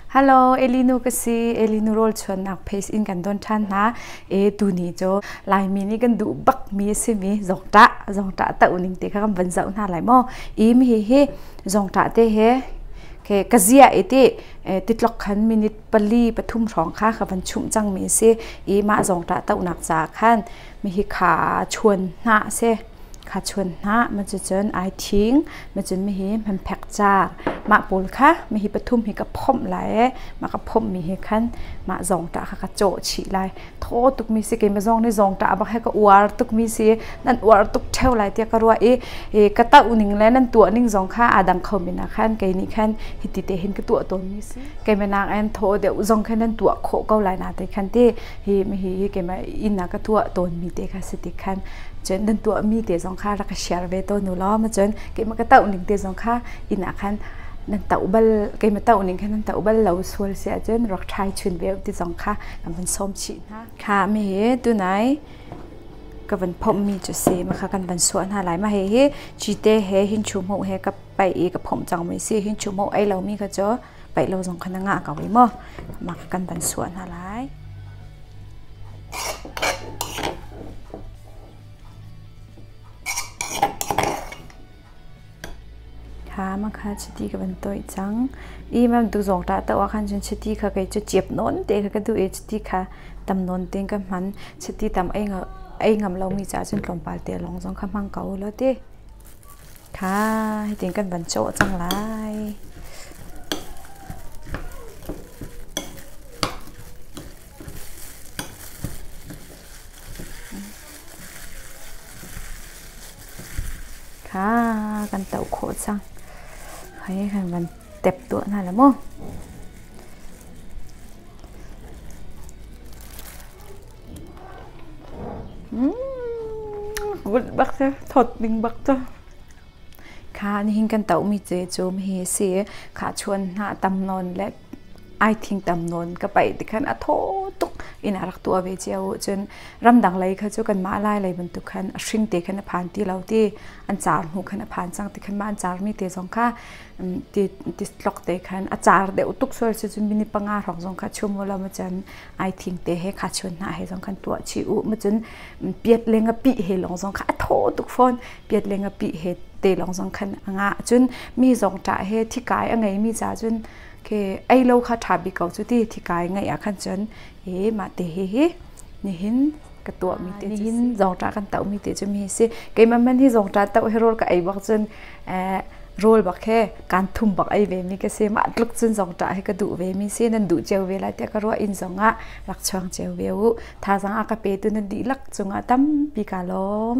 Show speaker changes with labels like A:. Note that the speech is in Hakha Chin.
A: Hello, Elinu ka si. Elinu rawlchuannak pace in kan don ṭhan hna. E tuni cu Laimi nih kan duh bakmi a simi zongṭah, zongṭah ta uning te kha kan van zoh hna lai maw? Im hihi zongṭah te he ke ka ziah i ti eh, titlok khan minute pali pathum hrawng kha ka van chumh cangmi a si. I mah zongṭah tohnak caah khan mihi kha chuan hna a si. kha chuan hnah macucun ai thing macun mihi hmanphek caar mah pawl kha mihi pathum hi ka phomh lai i mah ka phomh mi he khan mah zawngṭah kha ka cawh chih lai thaw tukmi si keimah zong nih zawngṭah a bak he ka uar tukmi si nan uar tuk ṭheo lai tiah ka ruah i i ka tah ning le nan tuah ning zong kha aa dang kho men ah khan kei nih khan hiti te hin ka tuah tawnmi si keimah nakin thaw deuh zong khan nan tuah khawh ko lai na te khan ti hi hihi keimah inn ah ka tuah tawnmi te kha si tik khan cun nan tuahmi te zong kha rak ka share ve tawn u law ma cun keimah ka tauh ning te zong kha inn ah khan nan tauh bal keimah tauh ning khan nan tauh bal lo sual si ahcun rak try chun ve ti zong kha kan van sawm chih hna kha me hi tunai ka van phommi cu si ma kha kan van suah hna lai ma he hi chite he hin chu mu he ka pai i ka phom cang mi si hin chu mu ai lomi kha cu paih lo zong khan a ngah ko i maw mak kan van suah hna lai. ha ma kha chiti ka van toi cang i mam tu zong ta ta wa khan chun chiti kha kai chu chiap non te kha ka du e chiti kha tam non te ka man chiti tam ai ngam lo mi cha chun tlawmpal te long zong kha mang ko lo te Tha, hitin kan van cawh cang lai. Kha, kan tauh khawh cang. Hei kan van tep tuah hna la mu. Bunh bak cu, thawt ding bak cu. Kha nihin kan tohmi cecum hi a si. Kha chuan hna tam nawn le ai thing tam nawn ka paih tikhan a thaw tuk in a rak tuah ve cio ahcun ramdang lei kha cu kanmah lai lei bantuk khan a hring te khan a phan ti lo ti an car hnu khan a phan cang tikhan mah an carmi te zong kha ti tlok te khan a car deuh tuk sual si cun mini panga hrawng zong kha chum ulaw macan ai thing te he kha chun hna he zong khan tuah chi u ma cun piat le nga pi he lawng zong kha a thaw tuk fawn piat le nga pi he te lawng zong khan a ngah cun mi zong ṭa he thikai a ngei mi ca cun ke ei lo kha ṭha bik ko cu ti thikai ngeih ah khan cun e mah te he hi nihin ka tuahmi te cu nihin zongṭah kan tohmi te cu mi si keimah man hi zongṭah toh hi rawl ka ei bak cun rawl bak he kan thum bak ei ve mi ka si mah tluk cun zongṭah he ka duh ve mi si nan duh cio ve lai tiah ka ruah inn zong ah rak chuang cio ve u thazang ah ka pe tu nan dihlak cungah tampi ka lawm